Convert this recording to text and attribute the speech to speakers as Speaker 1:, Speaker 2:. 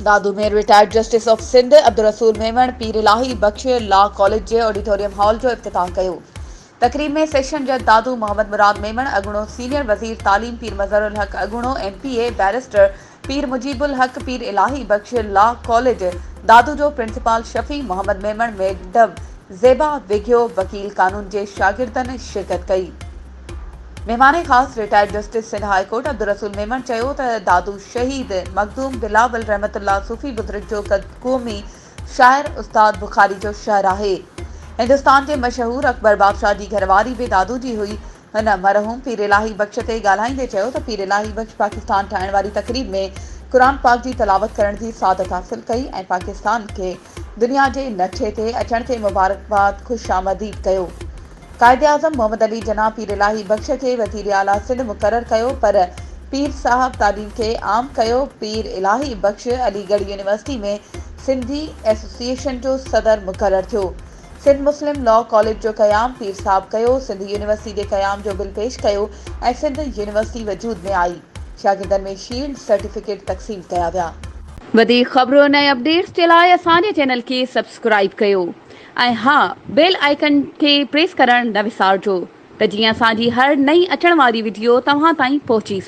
Speaker 1: Dadu ۾ retired justice of Sindh Abdul Rasool Memon Pir Ilahi Bakhsh law college جي auditorium hall جو افتتاح ڪيو تقريب ۾ سيشن جج دادو محمد مراد ميمڻ اڳوڻو سينيئر وزير تعليم پير مظهر الحق اڳوڻو M P A barrister Pir Mujib Ulhaq Pir Ilahi Bakhsh law college Dadu جو پرنسپال شفيع محمد ميمڻ ميڊم زيبا وگهيو وڪيل قانون جي شاگردن شرڪت ڪئي مهمان خاص retired justice Sindh high court Abdul Rasool Memon چيو ته دادو شهيد مخدوم بلاول رحمت الله صوفي بزرگ جو قومي شاعر استاد بخاري جو شهر آهي هندستان جي مشهور اڪبر بادشاهه جي گهرواري به دادو جي هئي هن مرحوم پير الاهي بخش تي ڳالهائيندي چيو ته پير الاهي بخش پاڪستان ٺاهڻ واري تقريب ۾ قرآن پاڪ جي تلاوت ڪرڻ جي سعادت حاصل ڪئي ۽ پاڪستان کي دنيا جي نقشي تي اچڻ تي مبارڪباد خوش آمديد ڪيو قائداعظم محمد علي جناح پير الاهي بخش کي وزير اعليٰ سنڌ مقرر ڪيو پر پير صاحب تعليم کي عام ڪيو پير Ilahi Bakhsh Aligarh university ۾ Sindhi association جو صدر مقرر ٿيو سنڌ مسلم لا ڪاليج جو قيام پير صاحب ڪيو، سنڌ يونيورسٽي جي قيام جو بل پيش ڪيو ۽ سنڌ يونيورسٽي وجود ۾ آئي. شاگردن ۾ شيلڊ، سرٽيفڪيٽ تقسيم ڪيا ويا. وڌيڪ خبرن
Speaker 2: ۽ اپڊيٽس جي لاء اسان جي چينل کي سبسڪرائيب ڪيو ۽ ها بيل آئيڪن کي پريس ڪرڻ نه وسارجو ته جيئن اسان جي هر نئين اچڻ واري وڊيو توهان تائين پهچي سگهي.